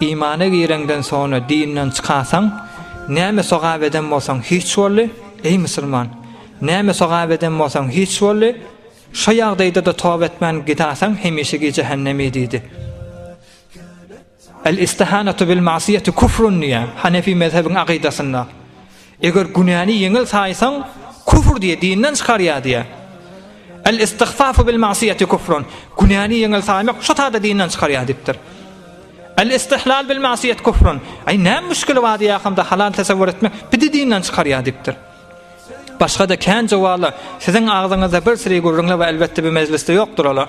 Imana gireňden sonra dinden çykasaň, näme sogap eden bolsaň hiç boldy, eý musulman! Näme sogap eden bolsaň hiç boldy, şo ýagdaýda-da toba etmän gidasaň hemişegi jähennemi diýdi. El-istihanatu bil-ma'siyeti kufrun diýýär, hanefi mezhebiň akydasynda. Eger günäni ýeňil saýsaň, küfr diýýär, dinden çykarýar diýýär. El-istigfafu bil-ma'siyeti küfrun. Günäni ýeňil saýmak şo taýda dinden çykarýar diýipdir. El-istihlal bil-ma'siyet küfrun. Aý, näme müşkili bar diýýärkam-da, halal tesewwür etmek bidi dinden çykarýar diýipdir. Başga-da kän jowala siziň agzyňyzda bir siri gürrüňler we elbetde bu mejlisde ýokdur olar.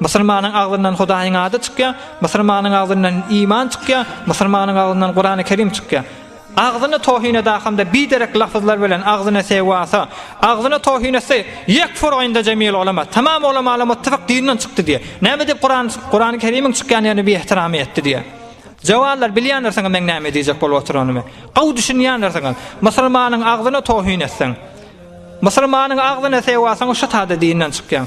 Musulmanyň agzyndan Hudaýyň ady çykýar, musulmanyň agzyndan iman çykýar, musulmanyň agzyndan Kurany Kerim çykýar. Agzyny tohin eda hamda biderek lafyzlar bilen agzyny sewasa, agzyny tohin etse, yekfur inda jemil ulema, tamam ulemalar muttifak dinden çykdy diýe. Näme edip Kuran Kurany Kerimiň çykýan ýerine bi ihtiramy etdi diýe. Jawarlar bilýändirsiňiz men näme diýjek bolup oturanymy. Gowy düşünýändirsiňiz. Musulmanyň agzyny tohin etseň, musulmanyň agzyny sewasaň şu tada dinden çykýaň.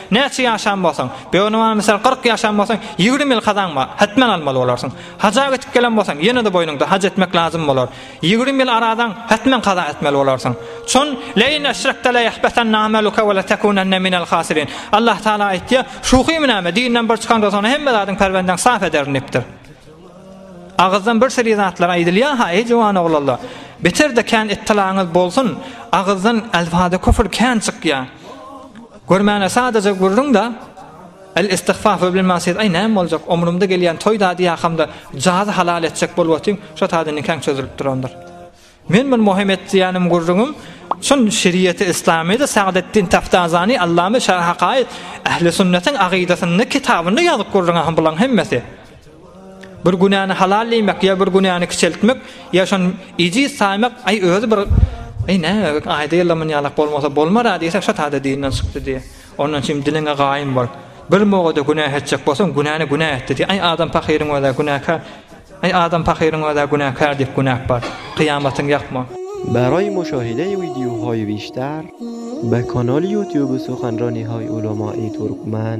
Näçe ýaşan bolsaň, böwniman mysal kyrk ýaşan bolsaň, ýigrimi ýyl kazaň bar, hetmen almaly bolarsyň. Haja gitip gelen bolsaň, ýene-de boýnuňda haj etmek lazym bolar. Ýigrimi ýyl arazaň, hetmen kaza etmeli bolarsyň. Çün, Lein eşrekte leyahbetenne ameluke ve letekunenne minel hasirin. Allah Taala aýtýar, Şuhymy näme, dinden bir çykaňda soňra hemme zadyň perwendeň saf ederin dipdir. Agyzdan bir seri zatlar aýdylýar ha, eý jowan oglanlar. Beter-de kän ittilaňyz bolsun, agyzdan elfada küfür kän çykýar. Görmäne sadaja gürrüň-da, El istigfaf we bilma siz aý näme boljak, omrumda gelýän toý dady ýakamda jazy halal etjek bolup otyň, şo sada nikaň çözülip durandyr. Men bir muhim et diýänim gürrüňim, şun şeriýeti islamyda Sagdeddin Taftazani allamy şaýhakaýyt ähli sünnetiň agydasynda kitabynda ýazyp gürrüň ahyň bulaň hemmesi. Bir günäni halal diýmek ýa bir günäni kiçeltmek ýa şon ejiz saýmak aý özi bir Ey ne ayda yalaman yalak bolmasa bolmar ha diýse şat hada dinden çykdy diýe. Ondan çim diliňe gaýym bol. Bir mogada günah etjek bolsaň günäni günah etdi diýe. Ay adam pakyryň öze günäkär. Ay adam pakyryň öze günäkär diýip günäk bar. Kyýamatyň ýakma. Bäraý muşa heleý widýu hoý wişdar. Bekonol ýutýuby suhanro nihoý ulama i turkmen.